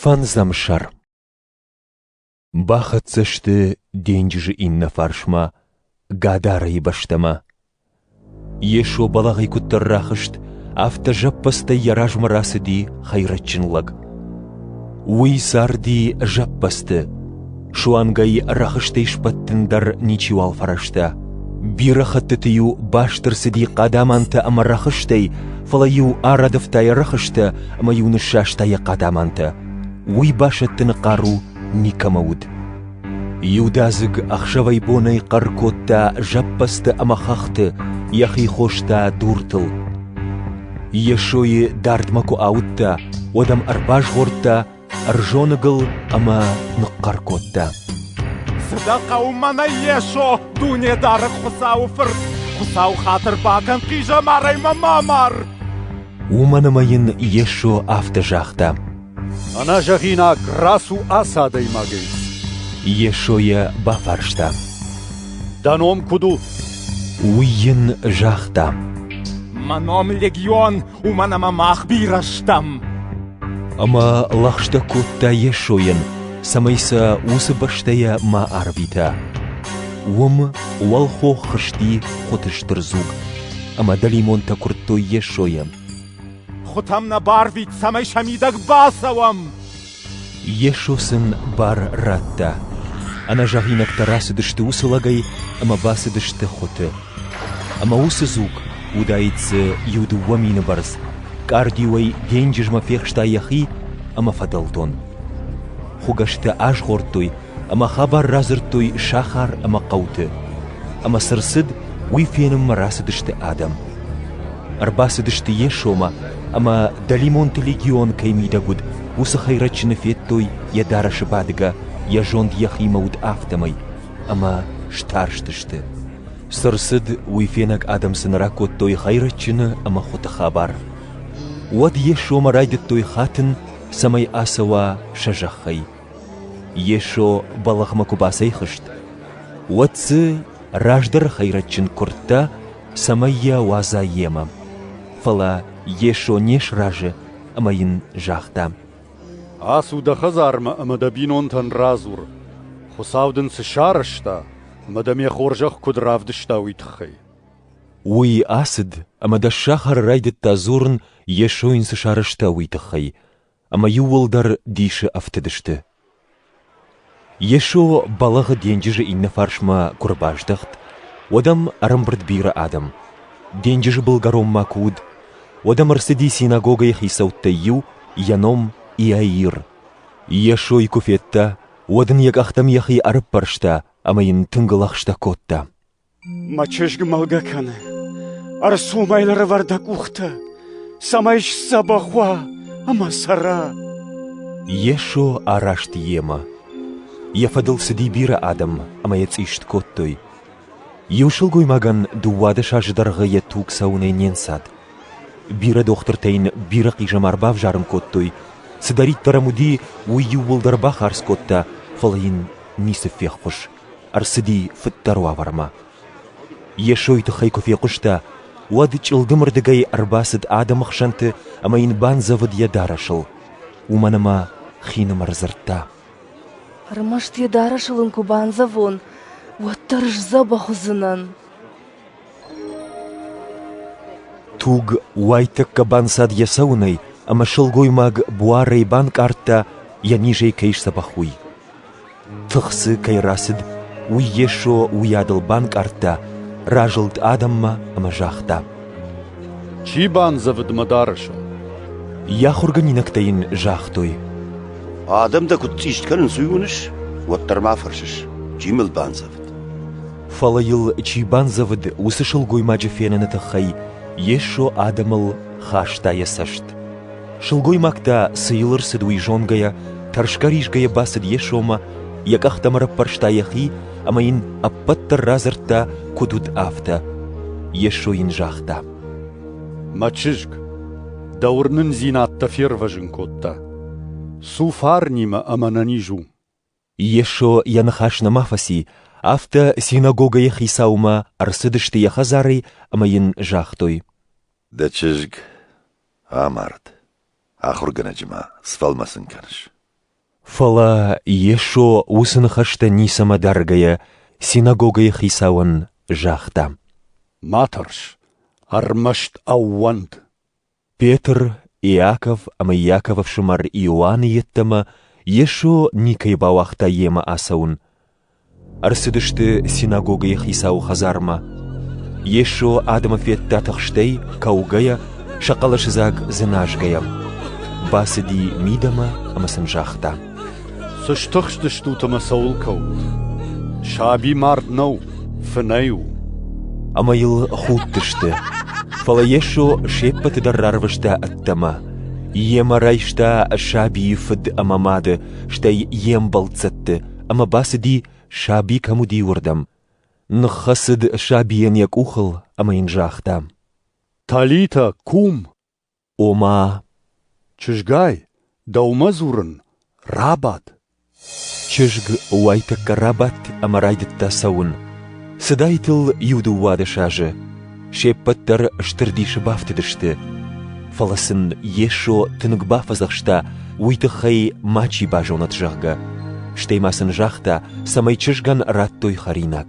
Фӕндзӕм сӕр Бахӕццӕ сты денджызы иннӕ фарсмӕ Гадарайы бӕстӕмӕ. Йесо бӕлӕгъӕй куыддӕр рахызт, афтӕ зӕппӕдзтӕй йӕ размӕ рацыди хӕйрӕджджын лӕг. Уый зарди зӕппӕдзты, Суангӕй рӕхыстӕй сбӕттын дӕр ничиуал фӕрӕзта. Бирӕ хӕттыты-иу баст ӕрцыди хъадамантӕ ӕмӕ рӕхыстӕй, фӕлӕ-иу арӕдывта йӕ рӕхыстӕ ӕмӕ-иу ныссаста йӕ хъадамантӕ. Уый басӕттыны хъару никӕмӕ уыд. Иудадзыг ӕхсӕвӕй-бонӕй хъӕр кодта зӕппӕдзты ӕмӕ хӕхты, йӕхи хоста дуртыл. Йесойы дардмӕ куы ауыдта, уӕд ӕм ӕрбазгъордта ӕрзоныгыл ӕмӕ ныхъхъӕр кодта. Цы дӕ хъӕуы мӕнӕй, Йесо, Дунедары Хуыцауы Фырт! Хуыцау хатырбагӕн хъизӕмарӕй мӕ ма мар! Уымӕн ӕмӕ йын Йесо афтӕ загъта. Ӕнӕзӕгъинаг рацу ацы адӕймагӕй. Йесо йӕ бафарста. Дӕ ном куыд у? Уый йын загъта. Мӕ ном Легион, уымӕн ӕмӕ мах бирӕ стӕм. Ӕмӕ лӕгъстӕ кодта Йесойӕн, цӕмӕй сӕ уыцы бӕстӕйӕ ма арвита. Уым уӕлхох хызти хуыты стыр дзуг, ӕмӕ дӕлимонтӕ куырдтой Йесойӕн. Хуытӕм нӕ барвит, цӕмӕй сӕ мидӕг бацӕуӕм! Йесо сын бар радта. Ӕнӕзӕгъинӕгтӕ рацыдысты уыцы лӕгӕй ӕмӕ бацыдысты хуыты. Ӕмӕ уыцы дзуг уыдаид дзы иу-дыууӕ мины бӕрц, къардиуӕй денджызмӕ фехста йӕхи ӕмӕ фӕдӕлтон. Хуыгӕстӕ азгъордтой ӕмӕ хабар радзырдтой сахар ӕмӕ хъӕуты, ӕмӕ цы рцыд, уый фенынмӕ рацыдысты адӕм. Ӕрбацыдысты Йесомӕ, ӕмӕ, дӕлимонты легион кӕй мидӕг уыд, уыцы хӕйрӕджджыны федтой йӕ дарӕсы бадгӕ, йӕ зонд йӕхимӕ уыд афтӕмӕй, ӕмӕ старстысты. Цы рцыд, уый фенӕг адӕм сын ракодтой хӕйрӕджджыны ӕмӕ хуыты хабар. Уӕд Йесомӕ райдыдтой хатын, цӕмӕй ацӕуа сӕ зӕххӕй, Йесо бӕлӕгъмӕ куы бацӕйхызт, уӕд дзы раздӕры хӕйрӕджджын куырдта, цӕмӕй йӕ уадза йемӕ. Фӕлӕ Йесо не сразы ӕмӕ йын загъта: «Ацу дӕ хӕдзармӕ ӕмӕ дӕ бинонтӕн радзур, Хуыцау дын цы сарӕзта ӕмӕ дӕ ме хорзӕх куыд равдыста, уый тыххӕй». Уый ацыд ӕмӕ дӕс сахары райдыдта дзурын, Йесо йын цы сарӕзта, уый тыххӕй. ӕмӕ иууылдӕр дисы ӕфтыдысты. Йесо бӕлӕгъы денджызы иннӕ фарсмӕ куы ӕрбаздӕхт, уӕд ӕм ӕрӕмбырд бирӕ адӕм. Денджызы былгӕронмӕ куы уыд, уӕд ӕм ӕрцыди синагогӕйы хицӕуттӕй иу, йӕ ном Иаир. Йесойы куы федта, уӕд ын йӕ къӕхтӕм йӕхи ӕрыппӕрста ӕмӕ йын тынг лӕгъстӕ кодта. Мӕ чызг мӕлгӕ кӕны, ӕрцумӕй лӕрӕвӕр дӕ къухтӕ, цӕмӕй сдзӕбӕх уа ӕмӕ цӕра. Йесо араст йемӕ. Йӕ фӕдыл цыди бирӕ адӕм ӕмӕ йӕ цъист кодтой. Иу сылгоймагӕн дыууадӕс азы дӕргъы йӕ туг цӕуынӕй не нцад. Бирӕ дохтыртӕ йын бирӕ хъизӕмар бавзарын кодтой, цыдӕриддӕр ӕм уыди, уый иууылдӕр бахардз кодта, фӕлӕ йын ницы феххуыс. ӕрцыди фыддӕр уавӕрмӕ. Йесойы тыххӕй куы фехъуыста, уӕд чъылдымырдыгӕй ӕрбацыд адӕмы хсӕнты ӕмӕ йын бандзӕвыд йӕ дарӕсыл. Уымӕн ӕмӕ хинымӕр дзырдта. Ӕрмӕст йӕ дарӕсыл ын куы бандзӕвон, уӕддӕр сдзӕбӕх уыдзынӕн. Туг уайтӕккӕ банцад йӕ цӕуынӕй, ӕмӕ сылгоймаг буарӕй банкъардта, йӕ низӕй кӕй сдзӕбӕх, уый. Тых дзы кӕй рацыд, уый Йесо уыйадыл банкъардта, разылд адӕммӕ ӕмӕ загъта: «Чи бандзӕвыд мӕ дарӕсыл?» Йӕ ахуыргӕнинӕгтӕ йын загътой: «Адӕм дӕ куыд цъист кӕнынц, уый уыныс? Уӕддӕр ма фӕрсыс, чи мыл бандзӕвыд?» Фӕлӕ йыл чи бандзӕвыд, уыцы сылгоймаджы феныны тыххӕй Йесо адӕмыл хаста йӕ цӕст. Сылгоймаг та, цы йыл ӕрцыд, уый зонгӕйӕ, тӕрсгӕ-ризгӕйӕ бацыд Йесомӕ, йӕ къӕхтӕм ӕрӕппӕрста йӕхи ӕмӕ йын ӕппӕт дӕр радзырдта, куыд уыд, афтӕ. Йесо йын загъта: «Мӕ чызг, дӕ уырнындзинад дӕ фервӕзын кодта. Цу фарнимӕ ӕмӕ нӕ низ у. Йесо йӕ ныхас нӕма фӕци, афтӕ синагогӕйы хицаумӕ ӕрцыдысты йӕ хӕдзарӕй ӕмӕ йын загътой: «Дӕ чызг амард. ахуыргӕнӕджы ма сфӕлмӕцын кӕныс?» Фӕлӕ Йесо уыцы ныхӕстӕ ницӕмӕ даргӕйӕ синагогӕйы хицауӕн загъта: «Ма тӕрс, ӕрмӕст ӕууӕнд!» Петр, Иаков ӕмӕ Иаков ӕфсымӕр Иоанны йеддӕмӕ Йесо никӕй бауагъта йемӕ ацӕуын. Ӕрцыдысты синагогӕйы хицауы хӕдзармӕ. Йесо адӕмы федта тыхстӕй, кӕугӕйӕ, сӕ хъӕлӕсыдзаг дзыназгӕйӕ. Бацыди мидӕмӕ ӕмӕ сын загъта: Цы стыхстыстут ӕмӕ цӕуыл кӕут? Саби мард нӕу, фынӕй у. Ӕмӕ йыл худтысты. Фӕлӕ Йесо се ппӕты дӕр рарвыста ӕддӕмӕ. Йемӕ райста сабийы фыд ӕмӕ мады, стӕй йе мбӕлццӕтты, ӕмӕ бацыди, саби кӕм уыди, уырдӕм. Ныххӕцыд сабийӕн йӕ къухыл ӕмӕ йын загъта: «Талитӕ, кум!» Ома, чызгай, дӕумӕ дзурын, рабад. Чызг уайтӕккӕ рабадт ӕмӕ райдыдта цӕуын. Цыдаид ыл иу-дыууадӕс азы. Се ппӕт дӕр стыр дисы бафтыдысты. Фӕлӕ сын Йесо тынг бафӕдзӕхста, уый тыххӕй мачи базонӕд, зӕгъгӕ. Стӕй ма сын загъта, цӕмӕй чызгӕн радтой хӕринаг.